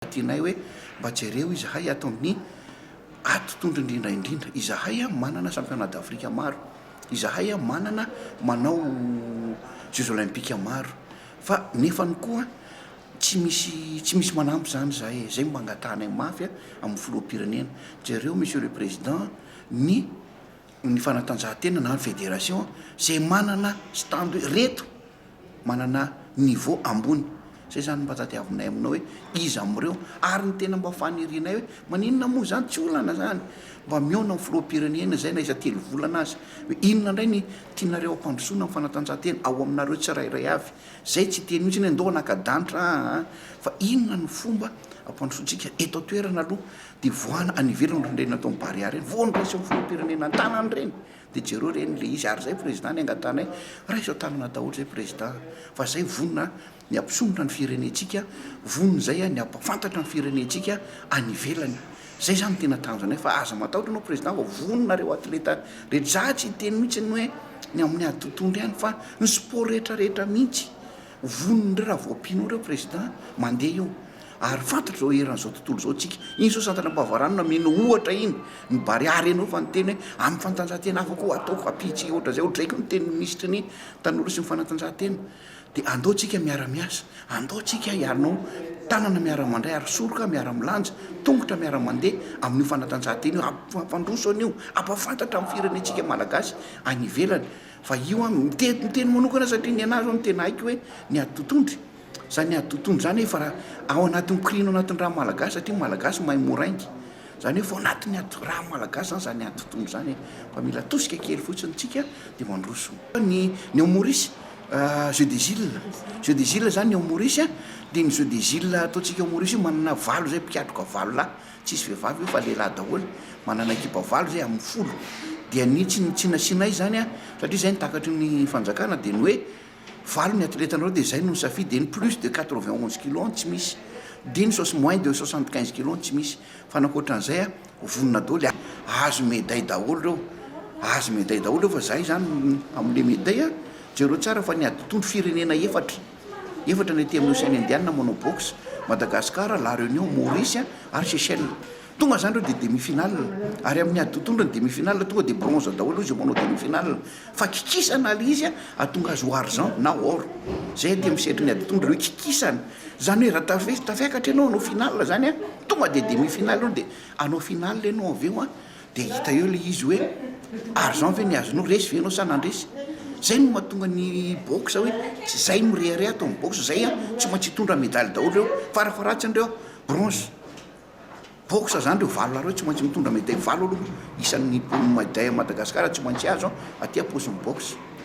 Tianay hoe mba jereo izahay ato amin'ny ato tondro indrindra indrindra. Izahay manana championnat d'Afrique maro. Izahay manana manao jeux olympiques maro. Fa nefany koa tsy misy tsy misy manampy izany izahay e. Izay no mba angatahanay mafy amin'ny filoham-pirenena. Jereo Monsieur le Président ny ny fanatanjahantena na ny fédération izay manana stand hoe reto manana niveau ambony, zay izany mba tadiavinay aminao hoe iza amin'ireo ary ny tena mba fanirianay hoe maninona moa izany tsy olana izany mba mihaona amin'ny filoham-pirenena izay na iza telo volana aza hoe inona indray ny tianareo hampandrosoana ny fanatanjahantena ao aminareo tsirairay avy izay tsy hiteny mihitsy ny hoe ndao hanaka-danitra aa fa inona no fomba hampandrosoantsika eto an-toerana aloha dia voahana any ivelany ireny atao ny barea ireny vao niraisin'ny filoham-pirenena an-tanany ireny. Dia jereo reny le izy ary zay président ny angatanay raiso an-tanana daholo zay président a! Fa zay vonona ny hampisondrotra ny firenentsika, vonona zay ny hampafantatra ny firenentsika any ivelany. Zay zany no tena tanjonay fa aza matahotra anao président fa vonona nareo atleta rehetra. Za tsy hiteny mihitsy ny hoe ny amin'ny ady totohondry ihany fa ny sport rehetra rehetra mihitsy Vonona raha voampino ireo Président mandeha eo ary fantatra izao eran'izao tontolo izao tsika. Iny izao Santana Ampavarano nameno ohatra iny ny Barea reny fa niteny hoe amin'ny fantanjahantena hafa koa ataoko ampitsy ohatra izay odraiko ny tenin'ny Minisitry ny tanora sy ny fanatanjahantena dia andao tsika miara miasa, andao tsika hianao tanana miara mandray ary soroka miara milanja, tongotra miara mandeha amin'io fanatanjahantena io, ampandroso an'io, ampafantatra amin'ny firenentsika Malagasy any ivelany. Fa io an, miteny miteny manokana satria ny anah zao ny tena haiko hoe ny ady totondry. Zany ady totondry zany efa ra ao anatin'ny korino anatin'ny ra malagasy satria ny malagasy mahay moraingy. Zany efa ao anatin'ny ady ra malagasy zany zany ady totondry zany e. Fa mila atosika kely fotsiny tsika de mandroso. Ny ny ao Maurice jeux des îles, jeux des îles zany ny ao Maurice a, de ny jeux des îles ataontsika ao Maurice io manana valo zay mpikatroka valo lahy. Tsisy vehivavy io fa lehilahy daholo, manana ekipa valo zay amin'ny folo, dia ny tsy tsy nasianay izany an, satria zay no takatry ny fanjakana dia ny hoe valo ny atletanareo dia zay no nisafidy, dia ny plus de quatre vingt onze kilos an tsy misy, dia ny soix moins de soixante quinze kilos an tsy misy, fa ny ankoatran'izay an vonona daholo, ahazo meday daholo ireo, ahazo meday daholo ireo fa zay izany hamole meday an, jereo tsara fa ny adin-tondro firenena efatra. Efatra ny ety amin'ny Oseana Indianina, Monobox, Madagasikara, La Réunion, Maurice ary Seychelles. Tonga izany ireo dia demi-finale. Ary amin'ny ady totondra ny demi-finale, tonga dia bronze daholo izay manao demi-finale. Fa kikisana ilay izy hahatonga azy ho argent na or. Izay ety amin'ny sehatry ny ady totondra ireo kikisana. Izany hoe raha tafis- tafiakatra ianao hanao finale izany, tonga dia demi-finale ianao dia hanao finale ianao avy eo. Dia hita eo ilay izy hoe ary zao ve ny azonao resy ve ianao sa nandresy? Zay no mahatonga ny boxe hoe tsy zay mirehareha ato amin'ny boxe zay an, tsy maintsy hitondra medaly daholo reo, farafaharatsiny reo bronze. Boxe zany reo valo lahy reo tsy maintsy mitondra medaille valo aloha isan'ny mponina Madagascar tsy maintsy azo an, aty am-paosin'ny boxe.